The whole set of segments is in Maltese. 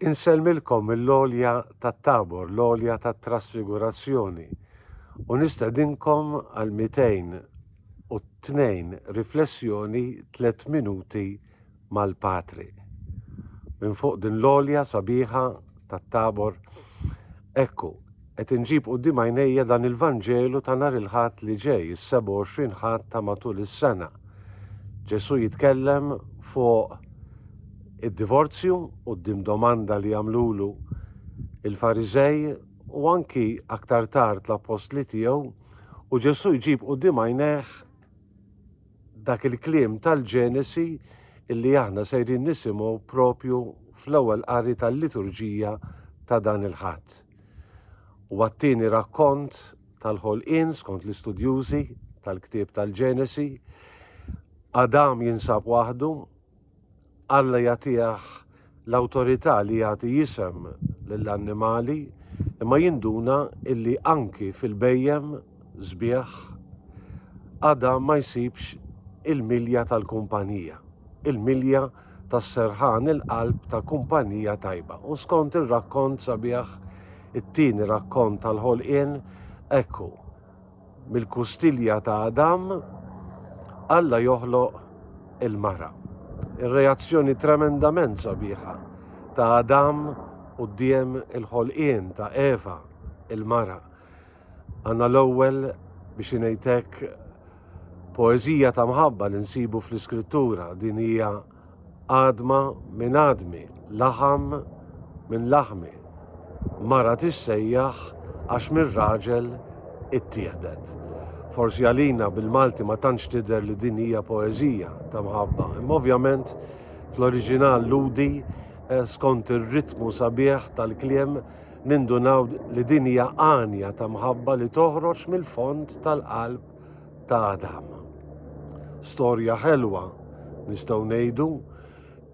Insellmilkom mill-għolja tat-Tabor, l-għolja tat-Trasfigurazzjoni, u nistedinkom għal 202 riflessjoni tliet minuti mal-Patri. Minn fuq din l-għolja sabiħa tat-Tabor, ekku, Qed inġib quddiem għajnejja dan il-Vanġelu ta' nhar il-Ħadd li ġej, is-27 Ħadd ta' matul is-sena. Ġesù jitkellem fuq id-divorzju quddiem domanda li għamlulu l-Fariżej u anki aktar tard l-appostli tiegħu u Ġesù jġib quddiem għajnejh dak il-kliem tal-Ġenesi illi aħna sejrin nisimgħu propju fl-ewwel qari tal-liturġija ta' dan il-Ħadd. Huwa t-tieni rakkont tal-ħolqien skont l-istudjużi tal-ktieb tal-Ġenesi. Adam jinsab waħdu, Alla jagħtih l-awtorità li jagħti jisem lill-annimali, imma jinduna illi anki fil-bhejjem sbieħ Adam ma jsibx il-milja tal-kumpanija, il-milja tas-serħan il-qalb ta' kumpanija tajba. U skont ir-rakkont sabiħ, it-tieni rakkont tal-ħolqien, hekk hu. Mill-kustilja ta' Adam, Alla joħloq il-mara. Ir-reazzjoni tremendament sabiħa ta' Adam quddiem il-ħolqien ta' Eva, il-mara. Għandna l-ewwel, biex ngħid hekk, poeżija ta' mħabba li nsibu fl-Iskrittura. Din hija għadma minn għadmi, laħam minn laħmi. Mara tissejjaħ għax mir-raġel ittieħdet. Forsi għalina bil-Malti ma tantx tidher li din hija poeżija ta' mħabba, imma ovvjament fl-oriġinal ludi eh, skont ir-ritmu sabiħ tal-kliem nindunaw li din hija għanja ta' mħabba li toħroġ mill-fond tal-qalb ta' Adam. Storja ħelwa nistgħu ngħidu,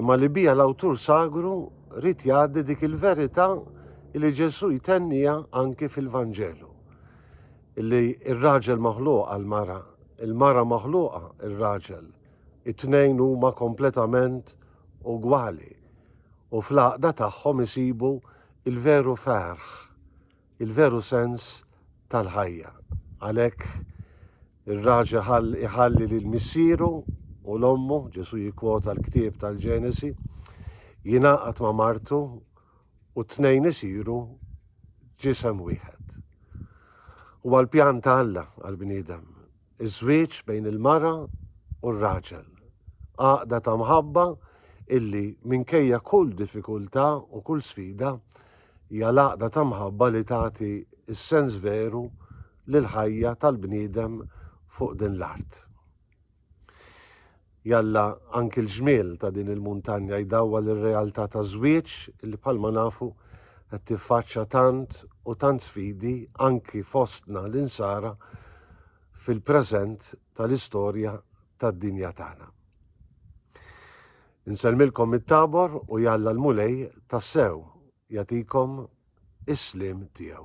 imma li bija l-awtur sagru rrit jgħaddi dik il-verità li Ġesu jtennija anki fil-Vanġelu. Illi ir-raġel maħluq għal-mara, il-mara maħluqa ir-raġel, it-tnejn huma kompletament ugwali u fl-għaqda tagħhom isibu il-veru ferħ, il-veru sens tal-ħajja. Għalhekk ir-raġel iħalli lil missieru u l ommu, Ġesù jikkwota l-ktieb tal-Ġenesi, jingħaqad ma' martu u t-tnejn isiru ġisem wieħed. Huwa l-pjan ta' Alla għall-bniedem Iż-żwieġ bejn il-mara u r-raġel. Għaqda ta' mħabba illi minkejja kull diffikultà u kull sfida hija l-għaqda ta' mħabba li tagħti s-sens veru lill-ħajja tal-bniedem fuq din l-art. Jalla anki l-ġmiel ta' din il-muntanja jdawwal ir-realtà taż-żwieġ li bħalma nafu qed tiffaċċja tant u tant sfidi anki fostna l-Insara fil-preżent tal-istorja tad-dinja tagħna. Insellmilkom mit-Tabor u jalla l-Mulej tassew jagħtikom is-sliem tiegħu.